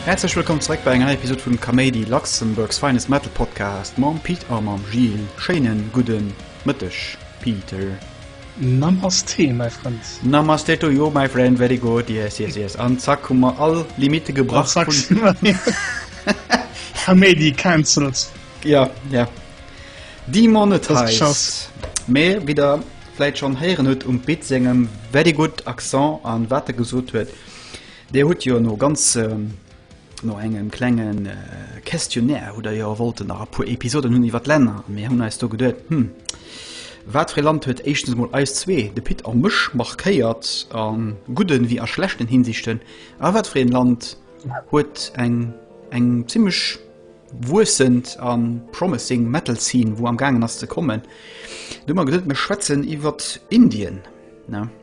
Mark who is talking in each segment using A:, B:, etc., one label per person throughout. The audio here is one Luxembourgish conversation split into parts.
A: Häerzlech wëllkomm zeréck bei enger Episode vum Kaméidi Luxemburgs Feines Metal Podcast mam Pit a mam Gilles. Schéinen gudden Mëtteg, Peter.
B: Namasté my friend. Namasté to you
A: my friend, very good, yes yes yes an zack hu mer all Limite gebrach. Kaméidi
B: cancelled. Ja ja
A: Di Monetize mee wéi der vläit schonn héieren hutt um Pit sengem very good Accent an wat e gesot huet, Dir hutt jo no ganz. No engem klenge Questionnaire hutt der jo wollten nach a puer Episoden hunn iwwer d'Länner. Mir hunn eis do geduet, hm, wat fir ee Land huet éischtens emol eis zwee, de Pit a mech, markéiert a gudden ewéi a schlechten Hinsichten a wat fir een Land huet eng eng zimmlech wuessend a promising Metal Scene wou am gaangen ass ze kommen. Dunn hu mer geduet, mir schwätzen iwwer Indien, ne?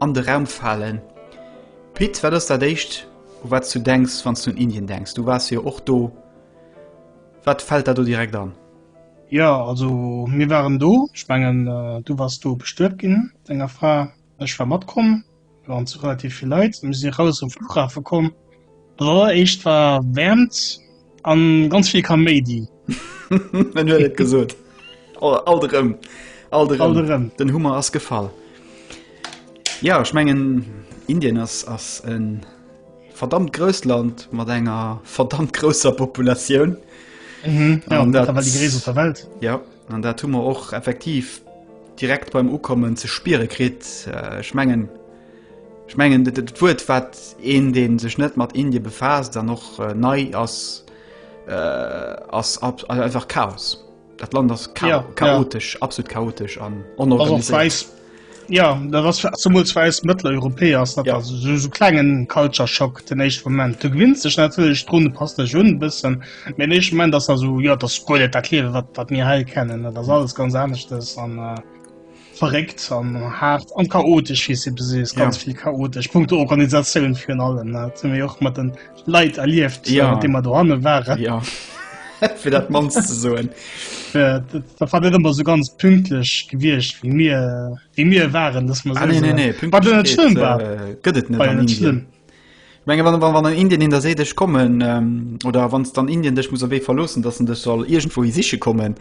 A: an de Raum falen. Pit, wat ass dat éischt u wat s du denks wann s du un Indien denks? Du waars jo och do. Wat fält der do direkt an? Jo, also
B: mir waren do. Ech mengen du waars do bestuet ginn mat denger Fra. Ech war matkomm, mir waren zu relativ vill Leit. Mir si eraus um Flughafe komm. Alleréischt war Wäermt. An ganz vill Kaméidi. En
A: huet et gesot. All, all rëm. All rëm. All rëm. Den Hummer ass gefall. Ja, ich mengen Indien ass ass en verdammt grösst Land mat enger verdammt großer Population.
B: Mhm, ja, an dat, die Gräse der Welt. Ja, an dat hu
A: mer och effektiv direkt beim Ukommen ze spiere krit. Äh, ich mengen Ech mengen et et Wuert wat een deen sech net mat Indien befaasst an och nei ass ass einfach Chaos. Dat Land ass chaotesch absolut chaotesch an onorganiséiert. Ja
B: dat ass zumools well eis Mëtteleuropäer ass dat esou klengen Culture Shock den éischte Moment. Du gewinns dech natierlech drun, du passt dech un e bëssen, mee den éischte Moment ass da esou, jo dat ass guer net dat Liewe wat mir hei kennen, dat ass alles ganz aneschters an. Verréckt an haart an chaotesch wéi se besees ganz vill chaotesch Punkt der Organisatioun virun allem net hun mir och mat den Leiit erlieft ja de mat do hanne waren ja
A: fir dat man ze soen
B: da war net ëmmer so ganz pünktlech gewiecht wie mir wie mir waren dass man ne ne gëtt et net
A: schlimm menge wann wann an Indien in der se dech kommen ähm, oder wanns dann Indien dech muss wee verlossen dat dech soll irgendwo i siche kommen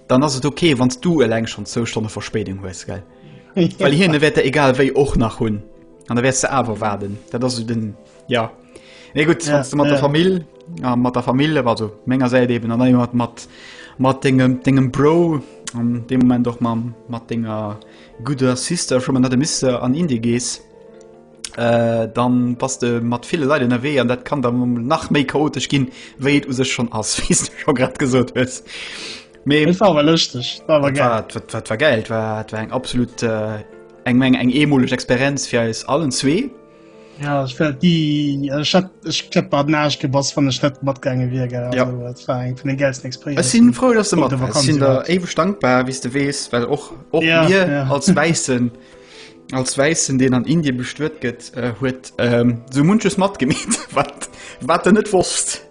A: Dann ass et ok wanns du eleng schon zou Stonne Verspéidung hues gell Well hien e wäert der egal wéi och nach hunn an der wärs ze awer waarden dat ass den ja e gutt ja, mat ja. der Famill a mat der Famill war so ménger säit eben an mat mat mat degem degem Bro an de moment doch ma mat denger gudder Sister schon man dat de misse an Indie gees. Äh, dann bass de mat ville Leit ënnerwee an dat kann dann um nach méi chaotesch ginn, wéi et u sech schon ass, wéi s du scho grad gesot hues. Mee Et war
B: awer lëschteg, war awer wat geil. war, wat, wat war geil, wat
A: war eng absolut äh, eng Menge eng eemoleg Experienz fir eis allen zwee. Ja, ich wär
B: die, also ich hätt, ich hätt bad Naasch gebass, wann ich net matgegangen wär, gell. Ja. Also, das war eng von den geilsten Experience. Ech sinn frou, dass du mat Punkte
A: wars. Ech sinn der Vakanz eweg dankbar, wéi s du weess, well och, och Ja, mir ja. als Wäissen, Als Wäissen, deen an Indien bestuet gëtt, huet sou munches matgemeet, wat en net wosst.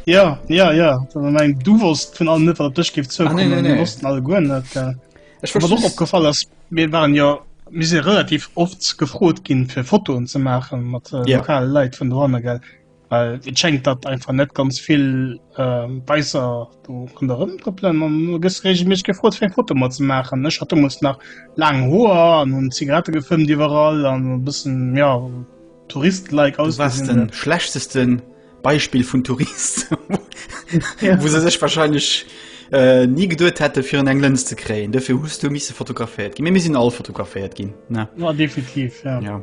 A: Ja,
B: ja, ja, eng du wosst vun allem net wat dech gift zou wossten alle goen net. Ech war och opgefall ass mir waren jo mis se relativ oft gefrot ginn fir Fotoen ze maachen mat lokale Leiit vun Doanne gell. Well et schengt dat einfach net ganz vill Beisser do an der Rëm trëppelen an du gëss regelméisseg gefrot fir eng Foto mat ze maachen. Ech hat demols nach laang Hoer an hunn Zigarette gefëmmt iwwerall an e bëssen, ja, Tourist-like ausgesinn. Du waars de schlechteste
A: Beispill vun Tourist, wou se sech wahrscheinlech ni geduet hätte fir un eng Lëns ze kréien. Dofir hues du misse fotograféiert ginn. Mee mir sinn all fotograféiert ginn, ne? Jo, definitiv,
B: ja.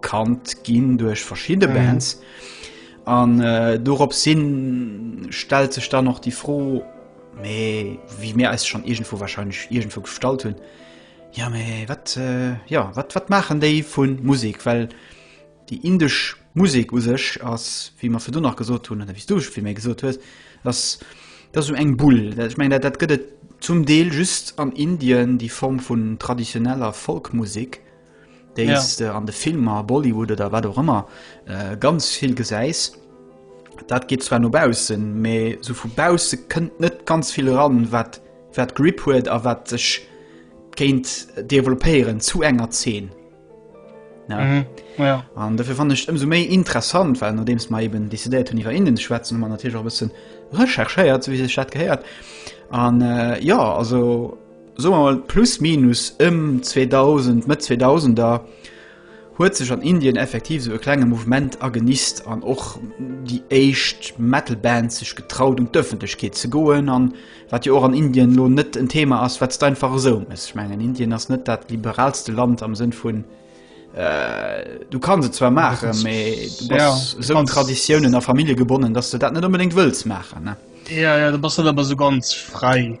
A: kannt ginn duerch verschidde mhm. Bands an äh, dorops sinn stellt sech dann noch die froh mee wie mir als schon irgendwo wahrscheinlich irgendwo gestalt hunn ja mee wat äh, ja wat wat machen déi vun Musik well die indisch Musik u sech ass wie man fir du nach gesot hunn wie du wie mir gesot hues das das um eng bull dat ich mein dat, dat gëtt zum Deel just an Indien die Form vun traditioneller Folkmusik déi ja. äh, an de Filmer Bollywood oder wat och ëmmer äh, ganz vill gesäis. Dat geht zwar nobausen, me so vu Bause kënnt net ganz viel ran, wat wat Grip huet a wat sech géint developéieren zu enger 10. Ja. Mhm. Ja. An dafür fand ich umso méi interessant, weil nachdem es mal eben décidéiert hun iwwer innen schwätzen man natürlich auch bisschen recherchéiert, wie se Stadt geheiert. An äh, ja also soe mer mol plus minus ëm 2000, Mëtt 2000er, huet sech an Indien effektiv esou e klenge Mouvement agenist an och déi éischt Metal-Bands sech getraut un d'Ëffentlechkeet ze goen an wat jo och an Indien elo net en Thema ass wat steinfach esou muss. Ech mengen Indien ass net dat liberalste Land am Sënn vun du kanns et zwar maachen, mee du bass esou un Traditiounen a Famillje gebonnen, dass du dat net onbedéngt wëlls maachen. Ja, ja, du bass net
B: ëmmer esou ganz fräi.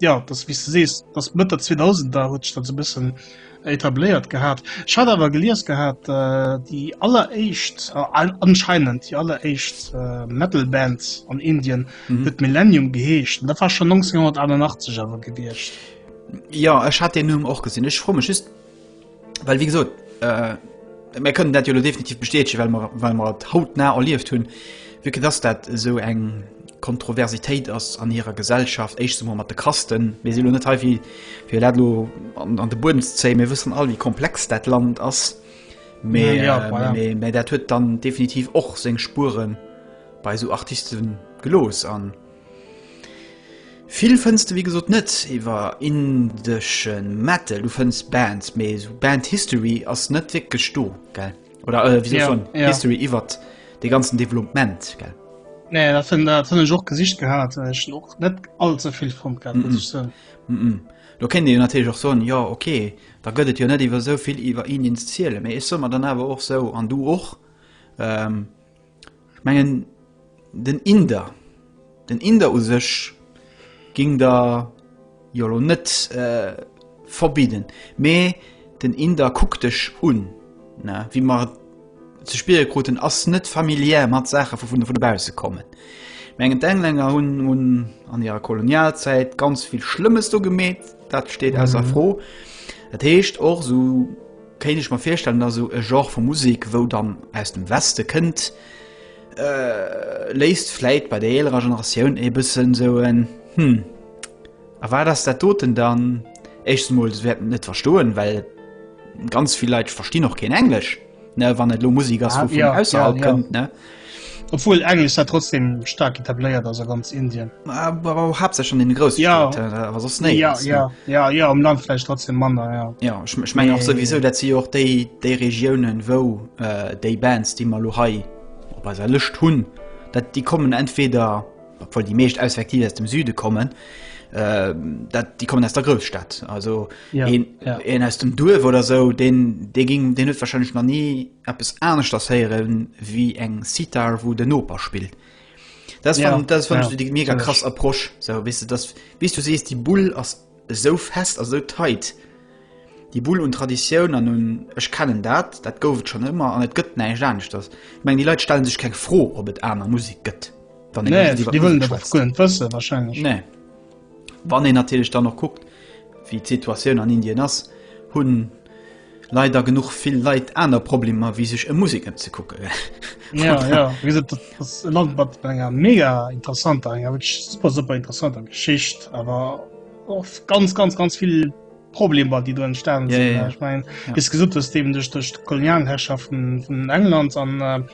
B: ja das wie du sees das mit der 2000 da rutsch dann so bisschen etabliert gehabt ich hatte aber geliers gehabt äh, die aller echt äh, anscheinend die aller echt äh, metal bands an indien mhm. mit millennium geheescht da war schon 1988 aber gewirrscht ja
A: es hat den nun auch gesehen ich froh mich ist Well wéi gesot äh, mir kënnen dat jo lo definitiv bestätegen, well mer well mer et hautnah erlieft hunn, wéi que dass dat esou eng Kontroversitéit ass an hirer Gesellschaft, éischtens emol mat de Kasten. Mir sinn lo net hei wéi fir dat lo an, an de Buedem ze zéien. Mir wëssen all, wéi komplex dat Land ass. Mä Ja, ja, äh, voilà. mä- mä dat huet dann definitiv och seng Spuren bei esou Artisten gelooss an Vill fënns de wéi gesot net iwwer indesche Metal. Du fënns Bands, mee esou Band-History ass net wierklech do, gell? Oder äh, wéi soll yeah, yeah. History iwwer de ganzen Development, gell? Nee, dat fënn
B: dat fënn ech och gesicht gehat, ech och net allze vill vum gehabt, mm -mm. So. Mm -mm. Lo kennt
A: Dir natürlich och soen ja okay, da gëtt et jo net iwwer souvill iwwer Indien ze ziele, mee ech soe mer dann awer och sou an du och. Ähm, Ech mengen den Inder, den Inder u sech géing der jo elo net verbidden, mee den Inder kuckt dech un, ne. Wéi mer et ze spiere kruten, ass net familiär mat Saache vu vun dobausse kommen. Ech mengen d'Englänner hunn an hirer Kolonialzäit ganz vill Schlëmmes do gemeet, dat steet ausser Fro. Dat heescht och esou. Kéint ech mer virstellen, dass esou e Genre vu Musek, wou dann aus dem Weste kënnt, léisst vläit bei der eelerer Generatioun e bëssen esou en Hm, a wat ass dat doten dann? Éischtens emol, se wäerten et net verstoen, well ganz vill Leit verstinn och keen Englesch, ne, wann et elo Musek ass, wou vun ausserhalb kënnt, ne. Obwohl
B: Englisch da trotzdem stark etabliert also ganz Indien aber hab se
A: schon den groß ja was ne ja ja ja
B: ja am Land vielleicht trotzdem Mann ja ja ich, ich meine nee. auch
A: sowieso dat sie auch de de Regionen wo äh, de Bands die mal hai op als erlöscht hun dat die kommen entweder obwohl die mecht auseffektiv aus dem Süde kommen äh, dat die kommen aus der Großstadt also ja, en, ja. en aus dem Duwe oder so den de ging den wahrscheinlich noch nie eppes aneschters héieren wéi eng Sitar, wou den Noper spillt. Das ja, fand, das fand ja, ich die mega krass Approche. So, weißt du, das, wie du siehst, die Bull ist so fest, also so tight. Die Bull und Tradition an nun, ich kenne das, das gab es schon immer und es gibt nicht anders. Das. Ich meine, die Leute stellen sich keine Frage, ob es andere Musik gibt. Nee, die, die
B: wollen das gar nicht wissen, wahrscheinlich. Nee.
A: Wann een natierlech dann och kuckt, wéi d'Situatioun an Indien ass, hu leider genuch vill Leit aner Problemer, wéi sech e Musek ëmzekucken. Ja, ja.
B: Wéi gesot, dat ass e Land mat enger mega interessanter, enger wierklech super, super interessanter Geschicht, awer och ganz, ganz, ganz vill Problemer, déi do entstanen sinn. Ja, ja, ja. Ech mengen, wéi s de gesot hues, eben duerch d'Kolonialherrschaft vun England an.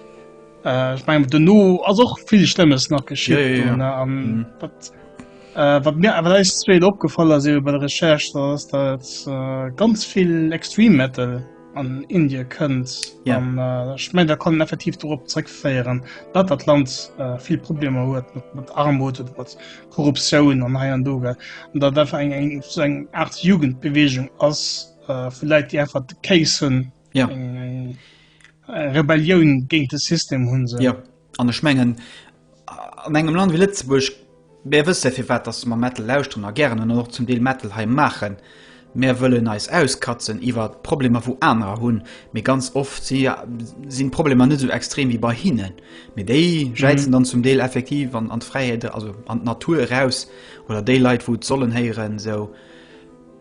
B: Äh, ich mein, den No ass och vill Schlëmmes nach geschieet. Ja, ja, ja. An, mhm. wat, äh, wat mir awer eis zweet opgefall ass iwwer bei der Recherche, da ass dat äh, ganz vill Extreme Metal an Indie kënnt. Ja. An, äh, ich mein, da kann effektiv dorop zréckféieren, dat dat Land äh, vill Probleme huet mat, mat Armut oder mat Korruptioun an hei an doge. An dat einfach eng eng so eng Art Jugendbewegung ass äh, vu Läit, déi einfach de Case hunn ja. eng, eng Rebellioun géint de System hunn se. Ja. An ech mengen
A: an engem Land wie Lëtzebuerg mé wësse fir wat ass ma Mettel lauschten a gären an och zum Deel Mettel hei maachen. Mär wëllen eis auskatzen iwwer d'Problemer wou anerer hunn, mee ganz oft si sinn d'Problemer net sou extrem wéi bei hinnen. Mee déi jäizen mhm. dann zum Deel effektiv an an d'Fräiheet also an d'Natur eraus oder déi Leit wou sollen héieren sou.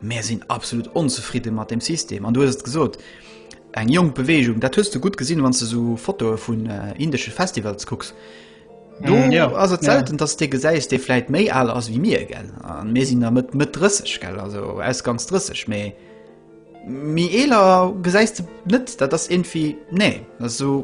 A: Mär sinn absolut onzefridde mat dem System an du hues et gesot, eng jonk Beweegung. Dat hues du gutt gesinn, wann s de sou Fotoe vun äh, indesche Festivals kucks. Do mm, ja, ass et selten, ja. dass de gesäis, dee vläit méi al ass wéi mir gell. An mir sinn der Mëtt Mëtt 30 gell, also ausgangs 30 méi mi eeler gesäis de net, dat ass irgendwie nee, dat ass sou.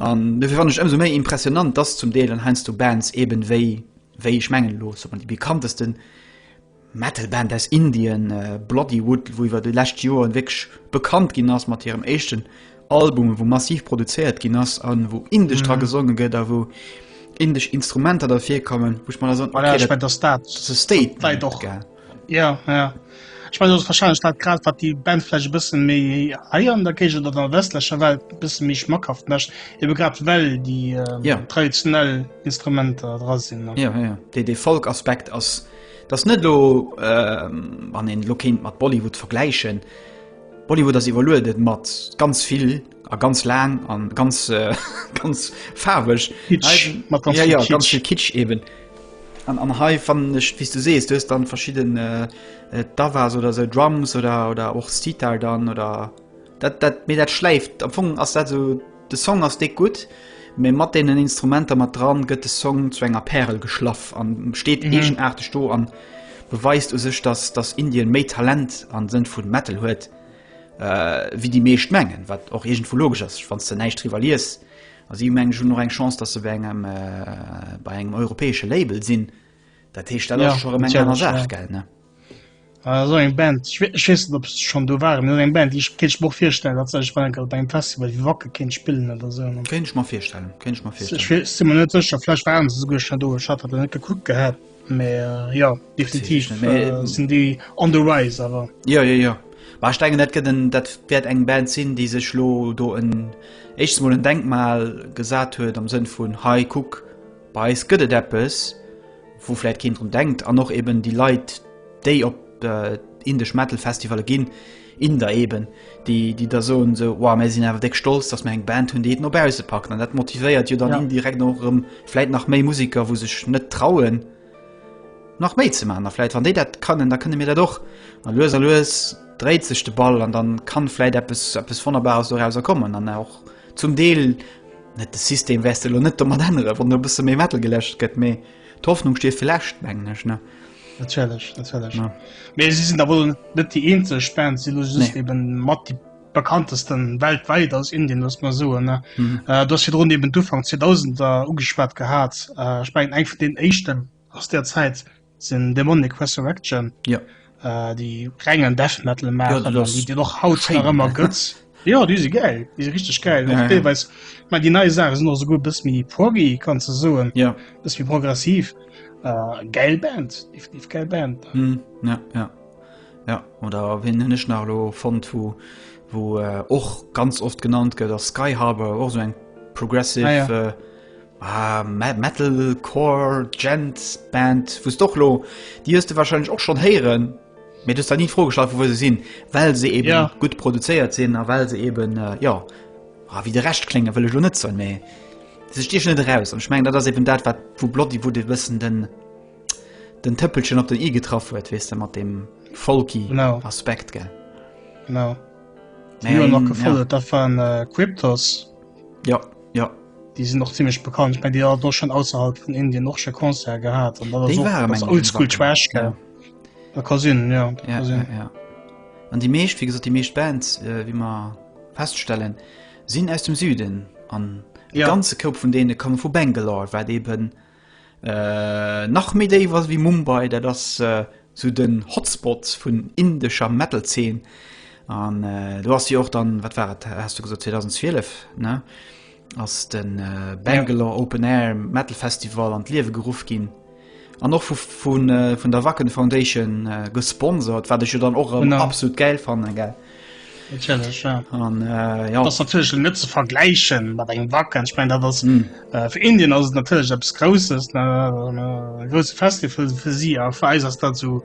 A: An dofir fannen ech ëmsou méi impressionant, dass zum Deel dann heiansdo Bands eben wéi, wéi ech mengen elo, ech sot mol déi bekannteste Metal-Band aus Indien, Bloodywood, wou iwwer déi lescht Joren wierklech bekannt ginn ass mat hirem éischten Album, wou massiv produzéiert ginn ass a wou Indesch dra gesonge gëtt a wou Indesch Instrumenter derfir kommen, wou ech mer da soen, okay, dat ass e
B: Statement, gell. Ja, ja. Ech mein, ass wahrscheinlech dat grad wat déi Band vläicht e bësse méi heier an der Géigend oder der westlecher Welt e bësse méi schmackhaft mécht, ebe grad well déi ähm, ja. traditionell Instrumenter dra sinn. Ja, ja. De, de
A: Folkaspekt ass dat net lo ähm, an en Lokéint mat Bollywood vergläichen. Bollywood ass iwwerluedet mat ganz vill A ganz laang an ganz äh, ganz faarweg Kitsch, ja, ganz, ja, ganz viel Kitsch eben an, an hei fan ech wie du sees du dann verschieden äh, äh da wars oder se Drums oder oder och Steetar dann oder dat dat mir dat schläift am Fong ass dat so de Song ass de gut mé mat denen Instrumenter mat dran gëtt de Song zu enger Perel geschlaff an steet mhm. negen achte Sto an beweist u sech dass das Indien méi Talent an sinn vun Metal huet. wéi déi meescht mengen, wat och iergendwou logesch ass, wann s de näischt driwwer lies. A si hu meng ech hunn och eng Chance, datt se bei engem bei engem europäesche Label sinn. Dat heescht dat ass scho rëm eng aner Saach gell ne?
B: Esou eng Band ech weess net op se schonn do waren, esou eng Band déi kéint ech mer och virstellen, datt se sech wann enker op engem Festival wéi Wacken kéint spillen oder esou. Kéint ech mer virstellen,
A: kéint ech mer virstellen. Ech si mer net sécher, vläicht waren se
B: esouguer schonn do, ech hat dat net gekuckt gehat. Mä jo, definitiv sinn déi on the rise awer. Jo, jo, jo.
A: Mä ech denken, dat gëtt en, dat wäert eng Band sinn, déi sech lo do en éischt mol en Denkmal gesat huet am Sënn vun, hei kuck, bei eis gëtt et eppes, wou vläicht keen drun denkt an och eben déi Leit, déi op indesch Metal-Festivalle ginn, Inder eben, déi, déi da soen esou, wow, mär sinn awer déck stolz, dass mär eng Band hunn, déi et no bausse packt. An dat motivéiert jo dann ja. indirekt och erëm vläit nach méi Musiker, wou sech net trauen, nach méi ze man. A vläit wann déi dat kënnen, da kënne mir dat och. A lues a lues dréit sech de Ball an dann kann vläit eppes, eppes Wonnerbares dorauser kommen. An och zum Deel net de System westel lo net domat ännere, wann no bësse méi Metal geläscht gëtt, mee d'Hoffnung stief fir läscht, mengen ech, ne? Natierlech,
B: natierlech. Ja. Mee si sinn awer net déi eenzeg Band, si just nee. eben mat déi bekanntesten weltweit aus Indien muss man so ne mhm. äh, das hier run eben Ufang 2000 da ugesperrt gehabt äh, ich mein, eng von den echten aus der Zeit sind Demonic Resurrection ja äh, die rengen Death metal machen, ja, die, die noch haut immer götz. Ja déi si gäil, déi si richteg gäil. Ja, ja. Deelweis ma déi nei Saache sinn och esouguer e bëss méi proggy, kann ze soen. Ja. Bëss méi progressiv. Äh, gäil Band, definitiv gäil Band. Hm, ja, ja.
A: Ja, oder wien hunn ech nach lo fonnt, wo wo äh, och ganz oft genannt gëtt ass Sky Harbor, och so eng progressive Ah, ja. äh, ah, Me- Metalcore Gent Band, wou's doch lo Dir hues de wahrscheinlech och schon héieren, Mir dës da nie d'Fro gestallt, vu wou se sinn, well se eben ja. gut produzéiert sinn a well se eben äh, ja ah, wie de recht klinge wëlle lo net zo méi. Se stich net raus an schmengen dat ass eben dat wat vu Blotti wo de wëssen den den Tëppelchen op den i getraff huet wees de mat dem Folki no. Aspekt ge. No. Nee,
B: noch gefolt ja. dat waren äh, Cryptos. Ja
A: ja die sind
B: noch ziemlich bekannt ich mein, die doch schon außerhalb von Indien noch schon Konzer gehabt und oldschool Trash. Ja. Dat ka sinn, ja. Dat ja, ka sinn.
A: Ja, ja. An déi meescht, wéi gesot, déi meescht Bands, äh, wéi mer feststellen, sinn aus dem Süden. An e ja. ganze Koup vun deene komme vu Bangalore, wat eben äh, nach méi déi was wéi Mumbai, dat ass äh, zu den Hotspots vun indescher Metal-Zeen. An äh, du hast jo och dann, wat war et, hast du gesot 2012, ne? ass de Bangalore Open Air Metal Festival an d'Liewe geruff ginn. An och vun äh, der Wacken Foundation äh, gesponsert, wat ech jo dann och an absolut geil fanne ge. An
B: äh, ja. natierlech net ze vergläichen mat engem Wacken. Ich mein, dat ass mm. äh, fir Indien ass natierlech abs Grousses grouse Festival fir si a Feis ass dat zu. So,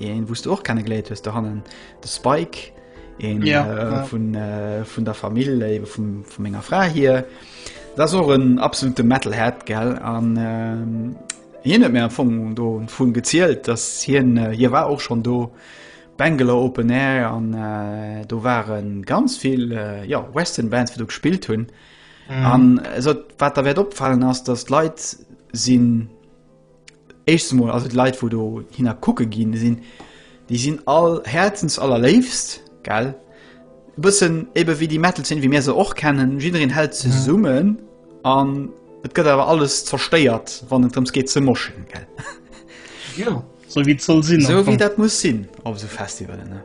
A: Een wous du och kenne geléiert hues dohannen de Spike een ja, äh, ja. vun äh, vun der Famill äh, vum, vum enger Fra hier. Dat och en absolute Metalhead gell an ähm, hien net mé vum do vun gezielt, dat hien äh, hier war och schon do. Bengele Open Air an äh, do waren ganz vill äh, ja, Western Bands fir du gespielt hunn. Mm. An äh, wat der wäert opfallen ass, dat Leiit sinn Éischtes mol also d'Leit wou do hinner kucke gi sinn, déi sinn all Häerzens allerléifst gell. E bëssen ebe wéi déi Metal Zeen wéi mir se och kennen, jiddereen hält zesummen an et gëtt awer alles zerstéiert wann et drëms geet ze moschen gell. Jo,
B: sou wéi et soll sinn. Sou wéi dat muss sinn
A: op esou Festivalen ne.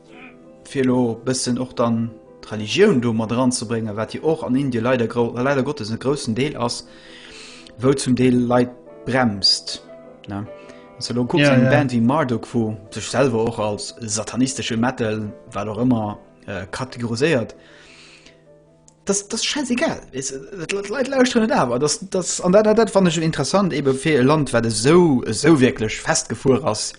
A: fir elo e bëssen och dann d'Religioun do mat eranzebréngen, wat jo och an Indien leider grou, leider Gottes e groussen Deel ass, wou zum Deel Leit bremst, ne? Wann s du elo kucks, eng ja. Band wéi Marduk, wou sech selwer och als satanistesche Metal, wat och ëmmer, äh, kategoriséiert, das, das scheißegal Leiit lausren net awer das, das, an dat, dat, dat fand ich interessant eben fir e Land wat esou esou wirklich festgefuer ass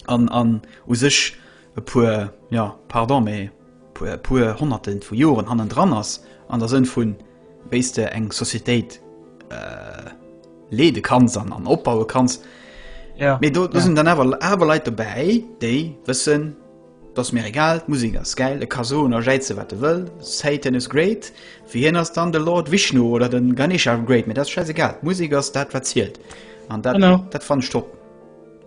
A: an an u sech e puer ja pardon méi puer puer honnerten vu Joren hannen dran ass an der Sënn vun wéis de eng Societéit äh, leede kanns an an opbaue kanns. Ja, méi do ja. sinn dann awer awer Leiit dobäi, déi wëssen dats mir egal Musik ass geil e ka so a Jäize wat de wëll Satan is great fir hien ass dann de Lord Wichnu oder den Ganesha great mir dat scheiß egal Musik ass dat wat zielelt an dat, dat fan stoppen.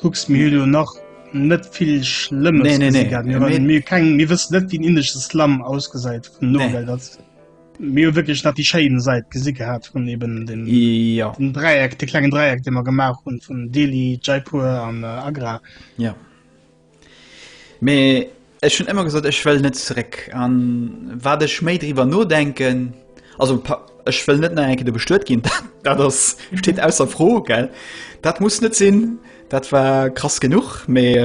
B: Kucks mir jo nach net vill schlëmmes nee, nee, nee. Mir, keng, mir wëss net wien indesche Slam ausgesäit vun no nee. dat mir wirklich nach die Schein seit gesi gehabt von eben den, ja. den Dreieck der kleinen Dreieck den man gemacht und von Delhi Jaipur an äh, Agra ja
A: Mee ech hunn ëmmer gesot, ech wëll net zeréck. An wat ech méi driwwer nodenken, also ech wëll net nach eng Kéier do bestuet ginn, dat ass, steet ausser Fro, gell. Dat muss net sinn, dat war krass genuch. Mee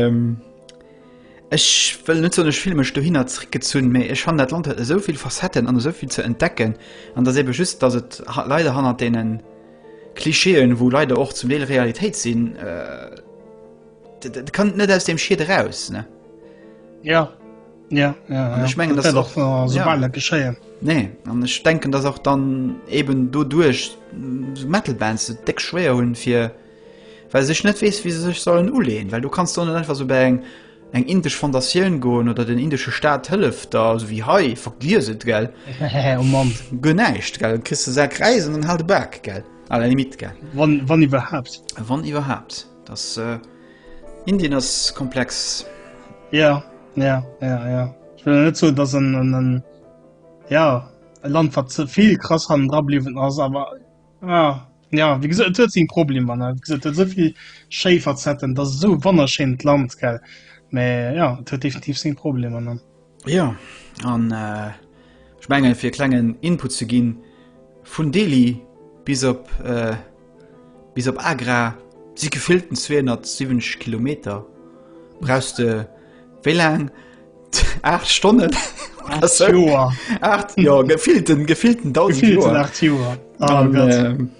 A: ech wëll net soen, ech fille mech dohinner zeréckgezunn, mee ech fannen dat Land huet esou vill Facetten an esou vill ze entdecken. An dass eebe just, dass et leider hannert deene Klischeeën, wou leider och zum Deel Realitéit sinn, Dat kann net aus dem Schied eraus ne. Ja ja, ja, ja. ich mengen das doch so ja.
B: geschéien. Nee an
A: ech denken dat auch dann eben do duerch so Metalband se deck schwéer hunn fir well sech net wees wie se sech sollen uleen, well du kannst dann einfach so bei eng eng indisch Fondatioun goen oder den indische Staat hëlleft da also wie hei verglieset gell oh Göneicht gell christ se kreisen an halt back gell. Wann iwwerhaft
B: wann iwwerhaft.
A: Das äh, Indien ass komplex. Ja,
B: ja, ja, ja. Ich will net so dass en en en ja e Land wat ze viel krass han dra bliwen ass, aber ja, ja wie gesot et huet sinn Problem an gesot huet soviel Schéiferzetten, dat so wannerschéint Land gell. Mä ja, et huet definitiv sinn Problem an. Jo,
A: an ech mengen, fir e klengen Input ze ginn, vun Delhi bis op bis op Agra si gefillten 270 Kilometer, brauchs de wéi laang? 8 Stonnen? 8 Joer! Jo, gefillten, gefillten 1.000 Joer! Gefillten 8 Joer, oh Gott!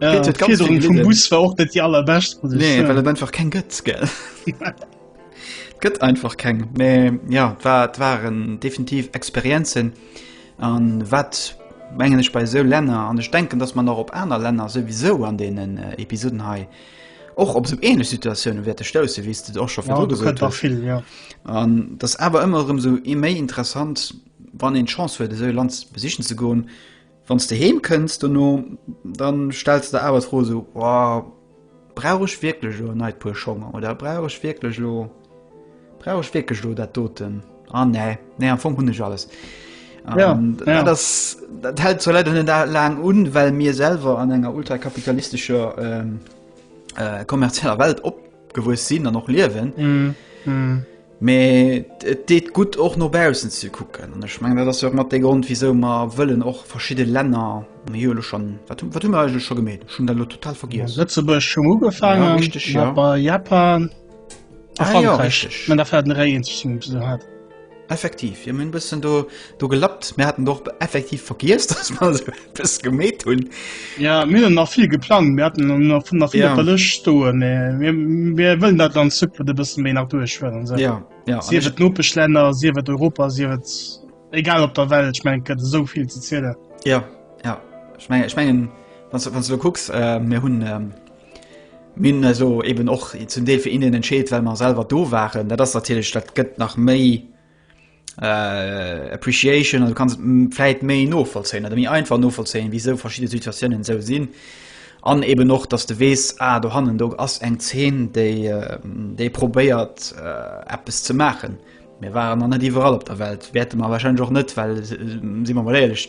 A: ja,
B: vum Bus war auch net die allerbescht nee, well einfach kein
A: Götz ge Gött einfach keng nee, ja wat waren definitiv Experizen an wat mengen ich bei so Länner an ich denken dass man noch op einer Länner sowieso an denen äh, Episoden hei och op so ähnlich Situationen werte stoße wie du auch schon ja, du viel, ja. das aber immer um so e méi interessant wann den Chance für so Land besichen zu gehen Wann s de heem kënns dono, dann stells de der awer d'Fro esou, Ohh, brauch ech wierklech elo e neit Puer Schong? Oder brauch ech wierklech elo, brauch ech wierklech elo dat doten? Ah nee, nee, am Fong hunn ech alles. Ja, ja. Dat, ass, dat hält zwar leider net laang un, well mir selwer an enger ultrakapitalistescher ähm, äh, kommerzieller Welt op gewues sinn an och liewen. Mm. Mm. Mais et deet gutt och no bausen ze kucken. An ech meng dat ass jo mat de Grund wieso ma wëllen och verschidde Länner hile schon wat wat hun eugel scho gemet. Schun der lo total vergiers. Lëtzebuerg schon ugefaangen ja, richtig, ja. bei Japan.
B: Ah, ja, richtig. Man der Fäerten Réien ze hat. Effektiv,
A: jo mir hunn e bëssen do, do gelappt. Mir haten och effektiv vergiess, dass mer se bis gemeet hunn. Ja, mir hunn nach
B: vill geplangt, mir hatten noch- noch nach vill Ja. op der Lëscht stoen, mä mir, mir wëllen dat an Zukunft e bëssen méi nach duerchhuelen. So. Ja, ja. an Sief ech- et d'Nopeschlänner, sief et Europa, sief et egal op der Welt, ich mein, gëtt esou vill ze zielen. Ja, ja.
A: Ich mengen, ich mengen, wann du, wann du kucks, äh, mir hunn ähm, Mir hunn eis elo eben och zum Deel fir Indien entscheet, well mer selwer do waren. Dat ass natierlech, dat gëtt nach méi Appreciation an du kanns et vläit méi novollzéien oder méi einfach novollzéien, wisou verschidde Situatiounen esou sinn. An eben och, dass du weess, ah do hannen do ass eng Zeen, déi déi probéiert eppes ze maachen. Mir waren nach net iwwerall op der Welt, wäerte mer warscheinlech och net, well si mer emol éierlech,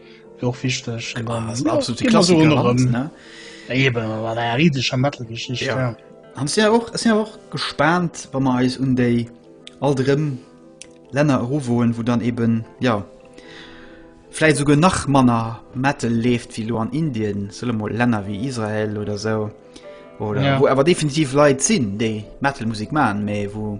B: Wär och wichteg. An dann ass absolut de Klassiker erëm. Ne? Eben, war der riesescher Metal-Geschichte. Ja. ja. An es ja och,
A: es ja och gespannt, wann wir eis un déi all drëm Länner eruwoen, wo dann eben, ja, vielleicht sogar nach manner Metal lebt wie lo an Indien, solle mal Länner wie Israel oder so. Oder ja. wo aber definitiv Leute sinn, déi Metal-Musik machen, mais wo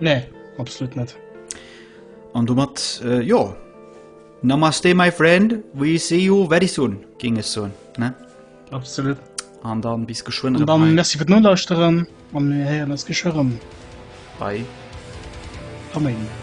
A: Nee,
B: absolut net. An
A: domat, äh, jo. Namaste, my friend. We see you very soon, ging es so, ne? Absolut.
B: An dann
A: bis geschwind. Und dann, merci für den
B: Nulauschterem. Und wir hören uns geschirren. Bye.
A: Amen.